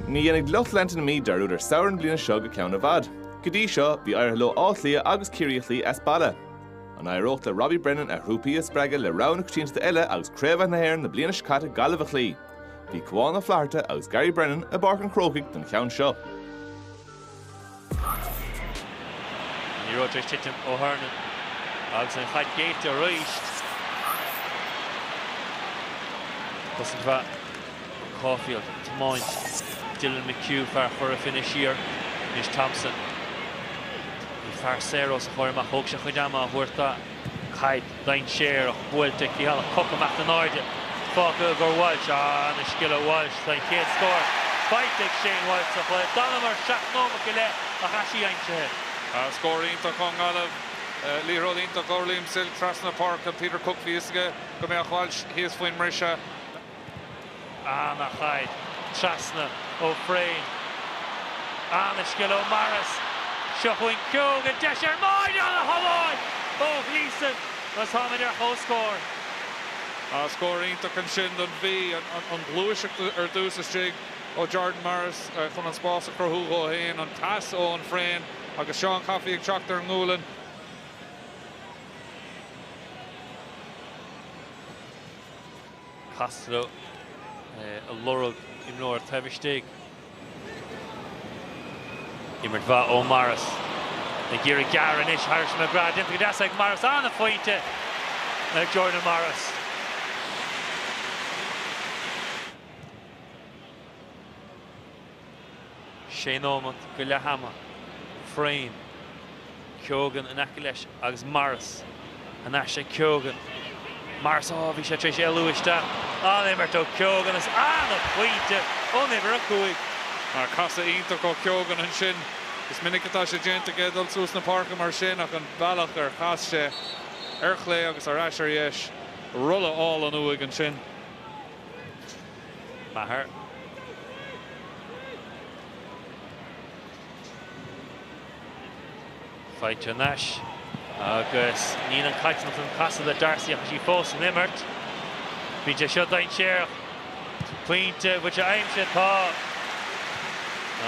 Ní dhéanfaidh lucht leanta na Mí dearúd ar samhradh na bliana seo go ceann i bhfad. Go dtí seo, bhí éirithe leo Áth Cliath agus Ciarraí a chloí as baile. An éireoidh le Robbie Brennan a thrúpaí a spreagadh le rogha na coitianta eile agus craobhacha na hÉireann na bliana seo caite Gaillimh a chloí? Bhí Cuán Ó Flatharta agus Gary Brennan i bPáirc an Chrócaigh don cheann seo. Liathróid tar éis titim ó Hernon agus an chaid géillte arís. Cosaint mhaith ó Caulfield ag tiomáint Dylan McHugh, fear Chora Finne, siar. Anois Thompson. Bhí fear saor os a chomhair amach. Thóg sé chuid ama a thabhairt dó. Caid dainséarach buailte ag Silke. Cooke amach in airde fágtha i gcomhair Walsh. Ana-scil ag Walsh, an chéad scór faighte ag Shane Walsh sa chluiche. D'fhanamar seacht nóimeat go leith ach tá sí aimsithe. Scór iontach ón nGaillimh. Liathróid iontach ó Liam Silke trasna na páirce. Peter Cooke, bhí fhios aige go mbeadh Walsh thíos faoin mbriseadh. Ana-chaid trasna ó Frayne. Ana-scil ó Morris. Seo chugainn Coffey le deis ar bháide, ana-shábháil ó Gleeson agus táimid ar comhscór. Scór iontach ansin don Mhí. An ghluaiseacht ar dtús istigh ó Jordan Morris chun an spás a chruthú dhó féin. An pas ó Eoghan Frayne agus Seán Coffey ag teacht ar an ngualainn. Costello ag lorg imreoir taobh istigh. Imirt mhaith ó Morris. Ag iarraidh gearradh anois thairis McGrath. Déanta go deas ag Morris. Ana phointe ag Jordan Morris. 6 nóimeat go leath ama, Frayne, Keoghan in aice leis agus Morris thar n-ais ag Keoghan, Morris, Á, bhí sé tar éis éalú isteach, an-imirt ó Keoghan is ana-phointe ón uimhir 5. Ach casadh iontach ó Keoghan ansin. Is minic atá sé déanta aige dul suas na páirce mar sin ach an bealach ar chas sé ar chlé agus ar ais ar dheis, rolla álainn uaidh ansin. Maher. Faighte thar n-ais agus níl an cailteanach den chasadh le Darcy ach tá sí fós san imirt. Bíonn sé seo dainséarach. Pointe an bhfuil sé aimsithe, tá,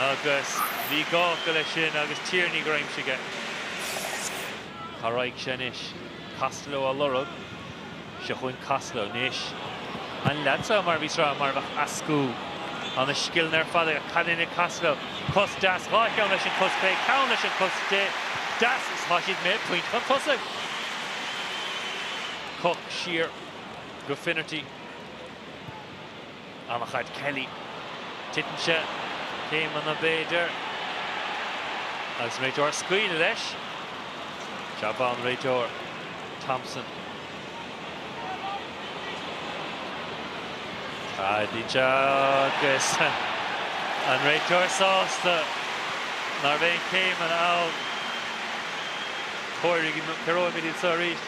agus bhí gá acu leis sin agus Tierney gur aimsigh é. Charaigh sé anois. Costello á lorg. Seo chugainn Costello anois. An lead seo mar a bhíos ag rá, mar a bheadh eascú na scileanna ar fad aige. Cad é an ag Costello? Cos deas, dhá cheann leis an cos chlé, ceann leis an cos deas is tá siad mé pointe chun tosaigh. Cooke siar go Finnerty. Ana-chaid Kelly. Titeann sé céimeanna, b'fhéidir, agus an réiteoir ag scaoileadh leis. Jab mhaith ón réiteoir, Thompson. Caithfidh sé agus an réiteoir sásta ná raibh aon céimeanna ann. Comhair, comhaireoimid iad seo arís.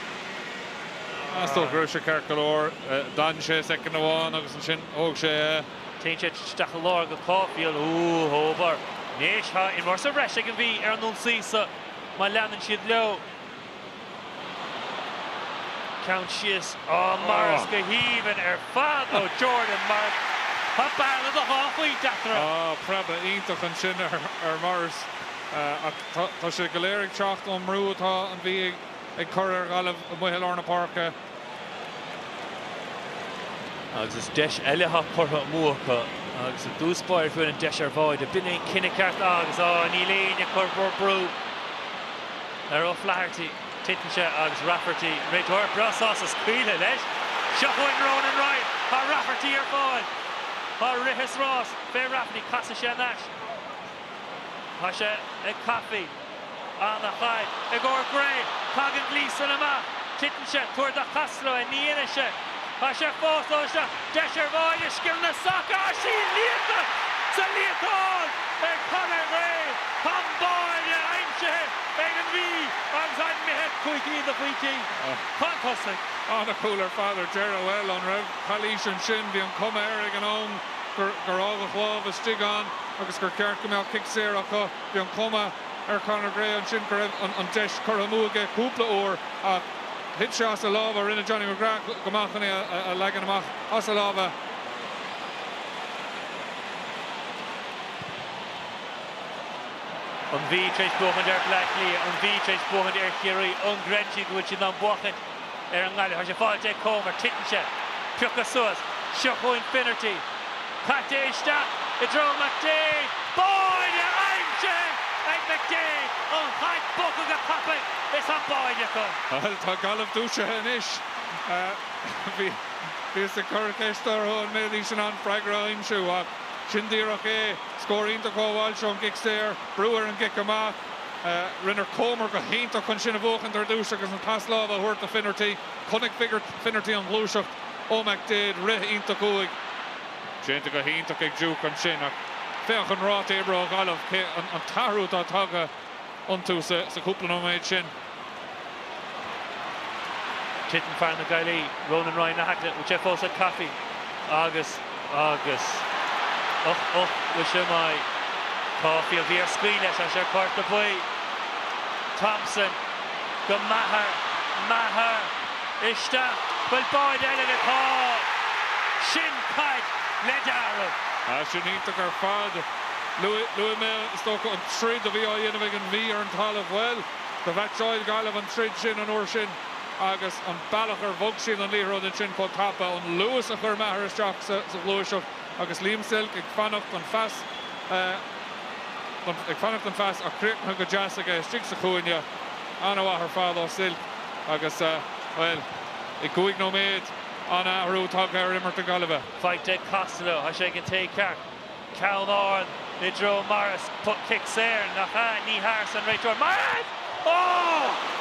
Is dócha go raibh sé ceart go leor. D'fhan sé soicind amháin agus ansin thóg sé é. Téann sé isteach i lár go Caulfield. Ooh, Hóbair. Anois, tá imreoir sa bhreis ag an Mhí ar an ionsaí seo má leanann siad leo. Ceann síos. Oh, Morris go haoibhinn ar fad ó Jordan Morris. Tá bearna de dhá phointe eatarthu. Oh, preabadh iontach ansin ar Morris. Ach tá sé go léir ag teacht ón mbrú atá an Mhí ag. ag cur ar Ghaillimh amuigh i lár na páirce. Agus is deis eile atá curtha amú acu agus i dtús báire bhain an deis ar bháide. B'in é an cinneadh ceart agus á níl éinne ag cur brú ar O'Flaherty. Titeann sé agus Rafferty, réiteoir breá sásta scaoileadh leis. Seo chugainn Ronan Ryan. Tá Rafferty ar fáil. Tá rith is rás fé Rafferty. Casfaidh sé thar n-ais. Tá sé ag Coffey. Ana-chaid i gcomhair Gray. Tagann Gleeson amach. Titeann sé. Tabhair do Costello é. Ní dhéanann sé. Tá sé fós ann. Seo deis ar bháide, scil na sacair. Sea, liathta sa líontán ag Conor Gray. Tá an báide aimsithe ag an Mhí agus imithe cúig cinn de phointí chun tosaigh. Ana-chúl ar fad ar deireadh. Bhuel, an raibh calaois ansin? Bhí an cuma air ag an am gur fhágadh lámh istigh ann agus gur cheart go mbeadh cic saor acu. Bhí an chuma ar Conor Gray ansin go raibh an deis curtha amú aige cúpla uair ach thit sé as a lámha. Rinne Johnny McGrath go maith chun é a leagan amach as a lámha. An Mhí tar éis buachaint ar Bhleá Cliath? An Mhí tar éis buachaint ar Chiarraí? An gcreideann siad go bhfuil siad in ann buachaint? ar an nGaillimh. Tá sé fáilte ag Comer. Titeann sé. Pioctha suas. Seo chugainn Finnerty. Caite isteach i dtreo McDaid. Báide aimsithe ag McDaid. Ana-chaid. Bogtha go tapaidh is tá báide acu. Bhuel, tá Gaillimh dúisithe anois. Bhíos ag cur ceiste orthu an mbéidís in ann freagra a aimsiú ach sin díreach é. Scór iontach ó Walsh ón gcic saor. Brú ar an gcic amach. Rinne Comer go hiontach chun sin a bhuachaint ar dtúis agus an pas láimhe a thabhairt do Finnerty. Chonaic Finnerty an ghluaiseacht ó McDaid, rith iontach uaidh. Déanta go hiontach ag Duke ansin ach féach an ráta oibre ó Ghaillimh, an t-athrú atá tagtha iontu sa chúpla nóiméad sin. Titeann fear na Gaillimhe, Ronan Ryan in aice leis, bhfuil sé fós ag Coffey agus, agus. uch, uch, bhfuil sé maith? Caulfield bhí air scaoileadh leis is é ar cárta buí. Thompson, go Maher, Maher, isteach, bhfuil báide eile aige? Tá, sin caid le dealramh! Ah sin iontach ar fad. Luaigh, luaigh mé is dócha an troid a bhí á dhéanamh ag an Mhí ar an talamh, bhuel, Do mheaitseáil Gaillimh an troid sin an uair sin agus an bealach ar bhog siad an liathróid ansin chomh tapa, an luas a chuir Maher isteach sa ghluaiseacht agus Liam Silke ag fanacht don phas ag fanacht don phas ach críochnaithe go deas aige istigh sa chúinne. An-mhaith ar fad ó Silke agus, bhuel, i gcúig nóiméad an-athrú tagtha ar imirt na Gaillimhe. Faighte ag Costello, tá sé ag an té ceart. Ceann ard i dtreo Morris, poc cic saor, nach ea? Ní hea arsa an réiteoir. Morris! Ó!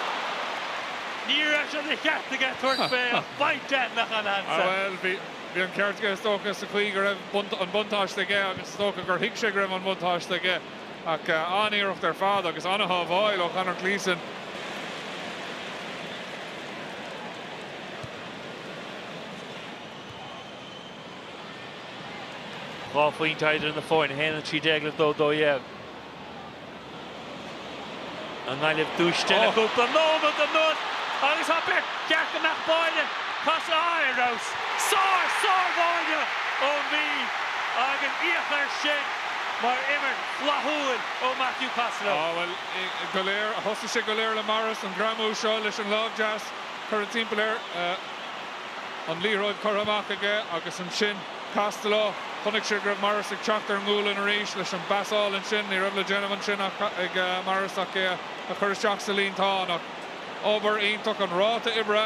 Ní raibh sé de cheart aige tabhairt fé ach baint de nach ann ansan. Bhuel, bhí an ceart aige, is dócha, sa chaoi go raibh an buntáiste aige agus is dócha gur thuig sé go raibh an buntáiste aige ach an-iarracht ar fad agus an-shábháil ó Conor Gleeson. Dhá phointe idir na foirne, 1, 13 le 2, 12. An Ghaillimh dúisithe le cúpla nóiméad anuas agus tá beirt ceart go mbeadh báire casadh aá ar fheabhas. Sár, sár bháire ón Mhí agus féach air sin mar imirt flaithiúil ó Matthew Costello. Á bhuel, go léir, thosaigh sé go léir le Morris, an greamú seo leis an láimh deas curtha timpeall air. an liathróid curtha amach aige agus ansin Costello, chonaic sé go raibh Morris ag teacht ar an ngualainn arís leis an bpas álainn sin, ní raibh le déanamh ansin ag Morris ach í a chur isteach sa líontán ach obair iontach, an ráta oibre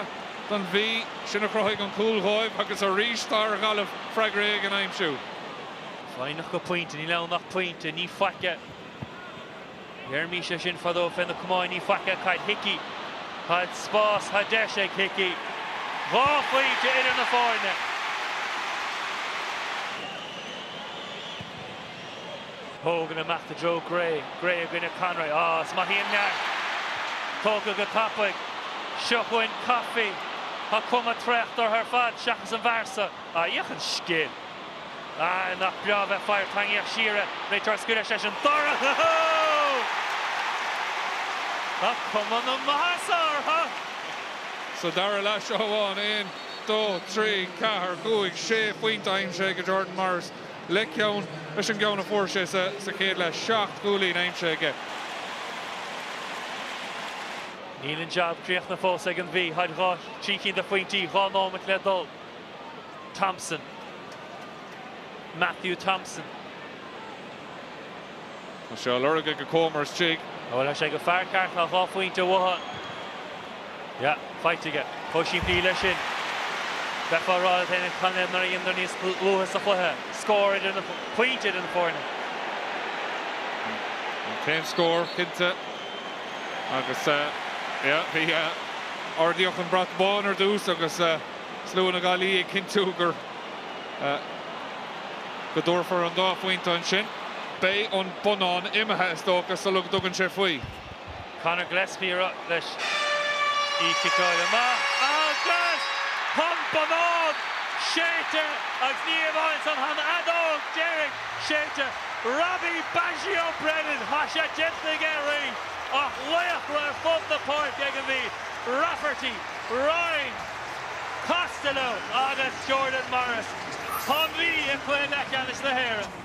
don Mhí, sin a chruthaigh an cúl dhóibh agus arís tá ar Ghaillimh freagra éigin a aimsiú. Foighneach go pointe, níl ann ach pointe, ní faic é. Deirimis é sin fadó fé na camáin ní faic é, caid Hickey. Tá spás, tá deis ag Hickey. Dhá phointe idir na foirne. Hogan amach i dtreo Gray. Gray i gcoinne Conroy. Á, is maith í an neart! Tógtha go tapaidh. Seo chugainn Coffey. Tá cuma traochta ortha ar fad seachas an bhfear san. Á, féach an scil! Ah, nach breá bheith páirteach agus siad ag éirí tuirseach leis an dara Tá cuma na maitheasa orthu! Sa dara leath seo amháin, aon, dó, trí, ceathair, cúig, sé phointe aimsithe ag Jordan Morris, le ceann leis an gceann a fuair sé sa chéad leath, seacht gcúilíní aimsithe aige. Níl an jab críochnaithe fós ag an Mhí, táid dhá, trí cinn de phointí, dhá nóimeat le dul. Thompson, Matthew Thompson. Tá sé á lorg ag Comer istigh. Bhuel, tá sé ag an bhfear ceart, tá dhá phointe uathu. Yeah, faighte aige. Chomh simplí leis sin. Bheifeá rá le Tennant chan é mar a dhéanadar níos luaithe sa chluiche. Scór idir na pointe idir na foirne. Cén scór cinnte agus yeah, bhí ardaíodh an brat bán ar dtús agus. slua na Gaillimhe ag cinntiú go dtabharfar an dá phointe ansin. Beidh an bonnán imithe, is dócha, sula dtugann sé faoi. Conor Gillespie leis. Í ciceáilte amach agus tá an bonnán séidte agus ní hamháin san, tá an fheadóg dheiridh séidte. Robbie 'Baggio' Brennan, tá sé déanta aige arís ach laochra ar fud na páirce ag an Mhí. Rafferty. Ryan Costello agus Jordan Morris. Tá an Mhí i gcluiche leathcheannais na hÉireann.